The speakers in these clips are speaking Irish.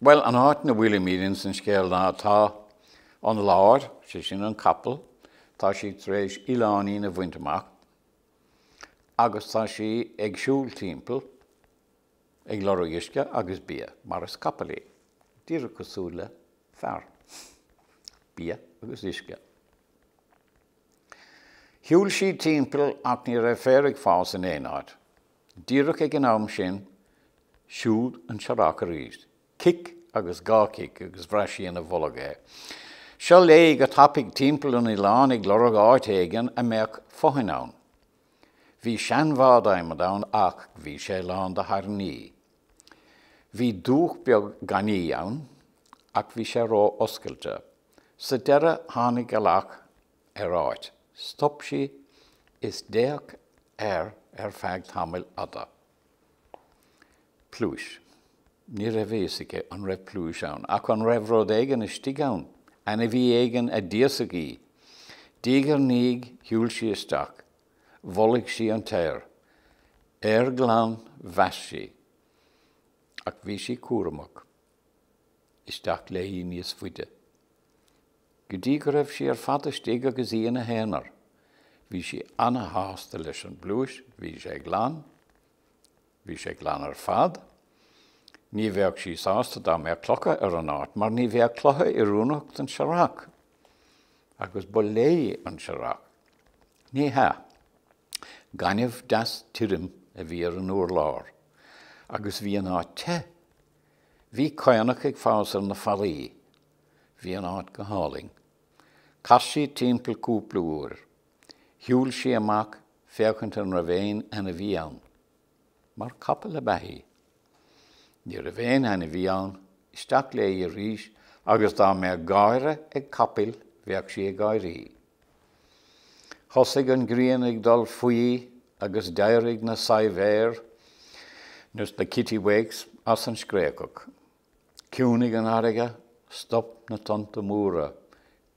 Bhuel, an áit ina bhfuilimid anois sa scéal ná tá an láir, sé sin an capall, tá sí tar éis oileáinín a bhaint amach agus tá sí ag siúl timpeall ag lorg uisce agus bia, mar is capall í, díreach cosúil le fear. Bia agus uisce. Shiúil sí timpeall ach ní raibh féar ag fás in aon áit. Díreach ag an am sin, siúd an Searrach arís. Cic agus dhá chic agus bhraith sí ina bolg é. Seo léi go tapaidh timpeall an oileáin ag lorg áit éigin a mbeadh fothain ann. Bhí seanbhád adhmaid ann ach bhí sé lán de thairní. Bhí dumhach beag gainí ann ach bhí sé ró-oscailte. Sa deireadh tháinig an lách ar áit. Stop sí is d'fhéach air ar feadh tamaill fhada. Pluais. Ní raibh a fhios aici a raibh pluais ann, ach an raibh rud éigin istigh ann, ainmhí éigin a d'íosfadh í. Diaidh ar ndiaidh shiúil sí isteach. Bholaigh sí an t-aer. Aer glan, mheas sí. Ach bhí sí cúramach. Isteach léi níos faide. go dtí go raibh sí ar fad istigh agus í ina haonar. Bhí sí ana-shásta leis an bpluais, bhí sé glan, bhí sé glan ar fad. Ní bheadh sí sásta dá mbeadh clocha ar an áit, mar ní bheadh clocha oiriúnach don searrach. Agus ba léi an searrach. Ní hea. Gaineamh deas tirim a bhí ar an urlár. Agus bhí an áit te. Bhí caonach ag fás ar na fallaí. Bhí an áit go hálainn. Chas sí timpeall cúpla uair. Shiúil sí amach féachaint an raibh aon ainmhí ann. Mar capall ab ea í. Ní raibh aon ainmhí ann. Isteach léi arís agus dá mbeadh gáire ag capaill bheadh sí ag gáirí. Thosaigh an ghrian ag dul faoi agus d'éirigh na saidhbhéir, nó is na kittiwakes, as an scréachach. Chiúnaigh an fharraige, stop na tonnta móra,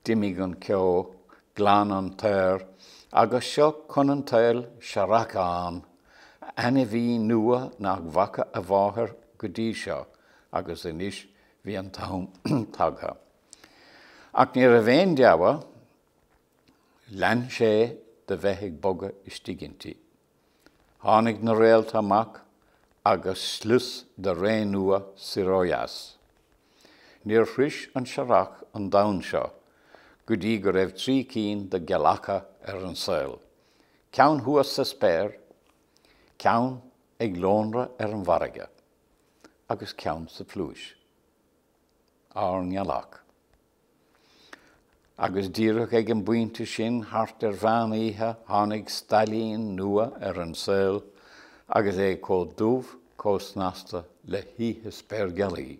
d'imigh an ceo, ghlan an t-aer, agus seo chun an tsaoil searrachán, ainmhí nua nach bhfaca a mháthair go dtí seo, agus anois bhí an t-am tagtha. Ach ní raibh aon deabhadh, lean sé de bheith ag bogadh istigh inti. Tháinig na réalta amach agus slios de ré nua soir ó dheas. Níor shrois an Searrach an domhan seo go dtí go raibh trí cinn de ghealacha ar an saol, ceann thuas sa spéir, ceann ag lonradh ar an bhfarraige, agus ceann sa phluais. Ár nGealach. Agus díreach ag an bpointe sin, thart ar mheán oíche, tháinig stailín nua ar an saol, agus é chomh dubh, chomh snasta le hoíche spéirghealaí.